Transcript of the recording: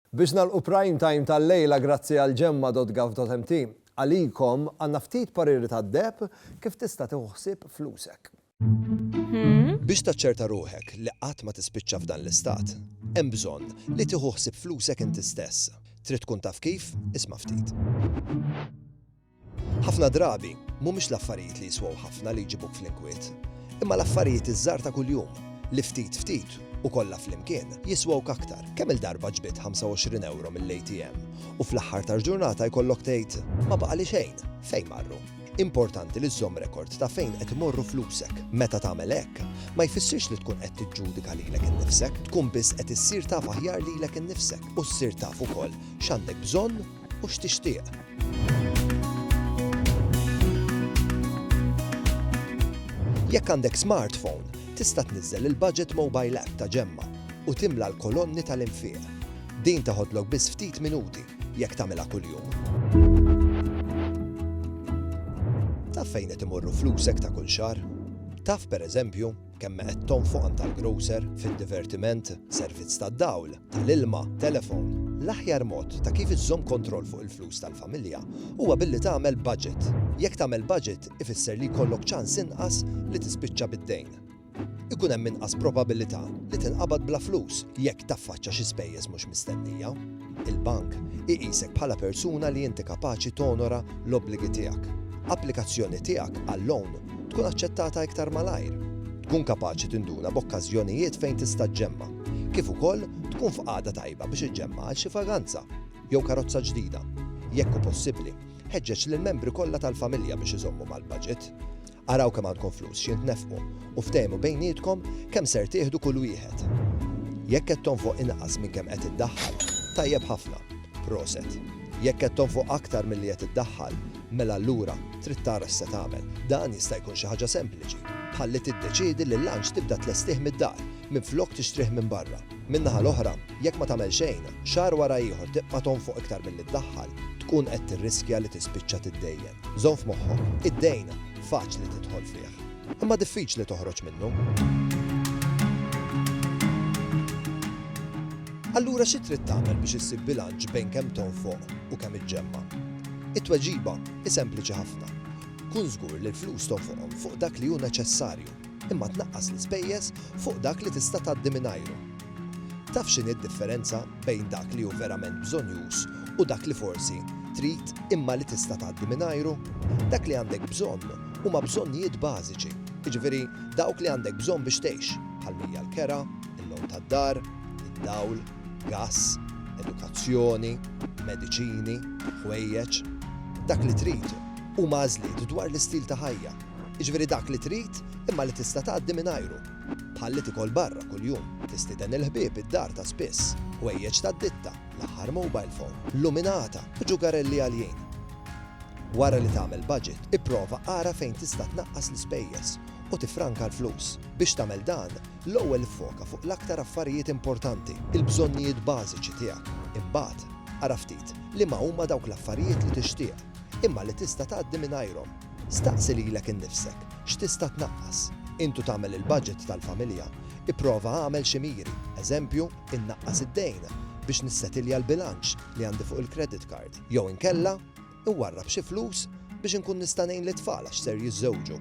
Biex nagħlqu Prime Time tal-lejla grazzi għal Gemma.gov.mt, għalikom għandna ftit pariri tad-deheb kif tista' tieħu ħsieb flusek. Biex taċċerta ruħek li qatt ma tispiċċa f'dan l-istat, hemm bżonn li tieħu ħsieb flusek inti stess. Trid tkun taf kif? Isma' ftit. Ħafna drabi, mhumiex l-affarijiet li jiswew ħafna li jġibuk fl-inkwiet, imma l-affarijiet iż-żgħar ta' kuljum, li ftit ftit, u kollha flimkien, jiswewk aktar. Kemm-il darba ġbidt 25 ewro mill-ATM u fl-aħħar tal-ġurnata jkollok tgħid, Ma baqali xejn! Fejn marru? Importanti li żżomm rekord ta' fejn qed imorru flusek. Meta tagħmel hekk, ma jfissirx li tkun qed tiġġudika lilek innifsek, tkun biss qed issir taf aħjar lilek innifsek u ssir taf ukoll x'għandek bżonn u x'tixtieq. Jekk għandek smartphone, tista' tniżżel il-Budget Mobile App ta' Ġemma u timla l-kolonni tal-infiq. Din teħodlok biss ftit minuti jekk tagħmilha kuljum. Taf fejn qed imorru flusek ta' kull xahar? Taf, pereżempju, Kemm me qed tonfoq għand tal-grocer, fid-divertiment, servizz tad-dawl, tal-ilma, telefon? L-aħjar mod ta' kif iżżomm kontroll fuq il-flus tal-familja huwa billi tagħmel budget. Jekk tagħmel budget ifisser li jkollok ċans inqas li tispiċċa bid-dejn. Ikun hemm inqas probabilità li tinqabad bla flus jekk taffaċċa xi spejjeż mhux mistennija. Il-bank iqisek bħala persuna li inti kapaċi tonora l-obbligi tiegħek. Applikazzjoni tiegħek għal loan tkun aċċettata iktar malajr. Tkun kapaċi tinduna b'okkażjonijiet fejn tista' ġġemma', kif ukoll tkun f'qagħda tajba biex iġġemma' għal xi vaganza jew karozza ġdida. Jekk hu possibbli, ħeġġeġ lill-membri kollha tal-familja biex iżommu mal-baġit. Araw kemm għandkom flus xi tnefqu u ftehmu bejnietkom kemm ser tieħdu kull wieħed. Jekk qed tonfoq inqas minn kemm qed iddaħħal, tajjeb ħafna, proset. Jekk qed tonfoq aktar milli qed iddaħħal, mela allura trid tara x'se tagħmel. Dan jista' jkun xi ħaġa sempliċi, bħal li tiddeċiedi li l-lunch tibda tlestih mid-dar minflok tixtrih minn barra. Min-naħa l-oħra, jekk ma tagħmel xejn, xahar wara ieħor tibqa' tonfoq iktar milli ddaħħal, tkun qed tirriskja li tispiċċa tiddejjen. Żomm f'moħħok, id-dejn faċli tidħol fih, imma diffiċli toħroġ minnu. Allura xi trid tagħmel biex issib bilanċ bejn kemm tonfoq u kemm iġġemma'? It-tweġiba hi sempliċi ħafna. Kun żgur li l-flus tonfoqhom fuq dak li hu neċessarju, imma tnaqqas l-ispejjeż fuq dak li tista' tgħaddi mingħajru. Taf x'inhi d-differenza bejn dak li hu verament bżonnjuż u dak li forsi trid imma li tista' tgħaddi mingħajru? Dak li għandek bżonn huma bżonnijiet bażiċi, jiġifieri dawk li għandek bżonn biex tgħix, bħal mija l-kera, il-logħob tad-dar, id-dawl, gass, edukazzjoni, mediċini, ħwejjeġ. Dak li trid huma għażliet dwar l-istil ta' ħajja, jiġifieri dak li trid imma li tista' tgħaddi mingħajru. Bħalli tikol barra kuljum, tistieden il-ħbieb id-dar ta' spiss, ħwejjeġ tad-ditta, l-aħħar mobile phone, luminata, u ġugarelli għaljin. Wara li tagħmel budget, ipprova ara fejn tista' tnaqqas l-ispejjeż u tiffranka l-flus. Biex tagħmel dan, l-ewwel iffoka fuq l-aktar affarijiet importanti, il-bżonnijiet bażiċi tiegħek. Imbagħad, ara ftit liema huma dawk l-affarijiet li tixtieq, imma li tista' tgħaddi mingħajrhom. Staqsi lilek innifsek, x'tista' tnaqqas? Intu tagħmel il-baġit tal-familja, ipprova agħmel xi miri, eżempju, innaqqas id-dejn biex nissetilja l-bilanċ li għandi fuq il-credit card, jew inkella, inwarrab xi flus biex inkun nista' ngħin lit-tfal għax ser jiżżewġu.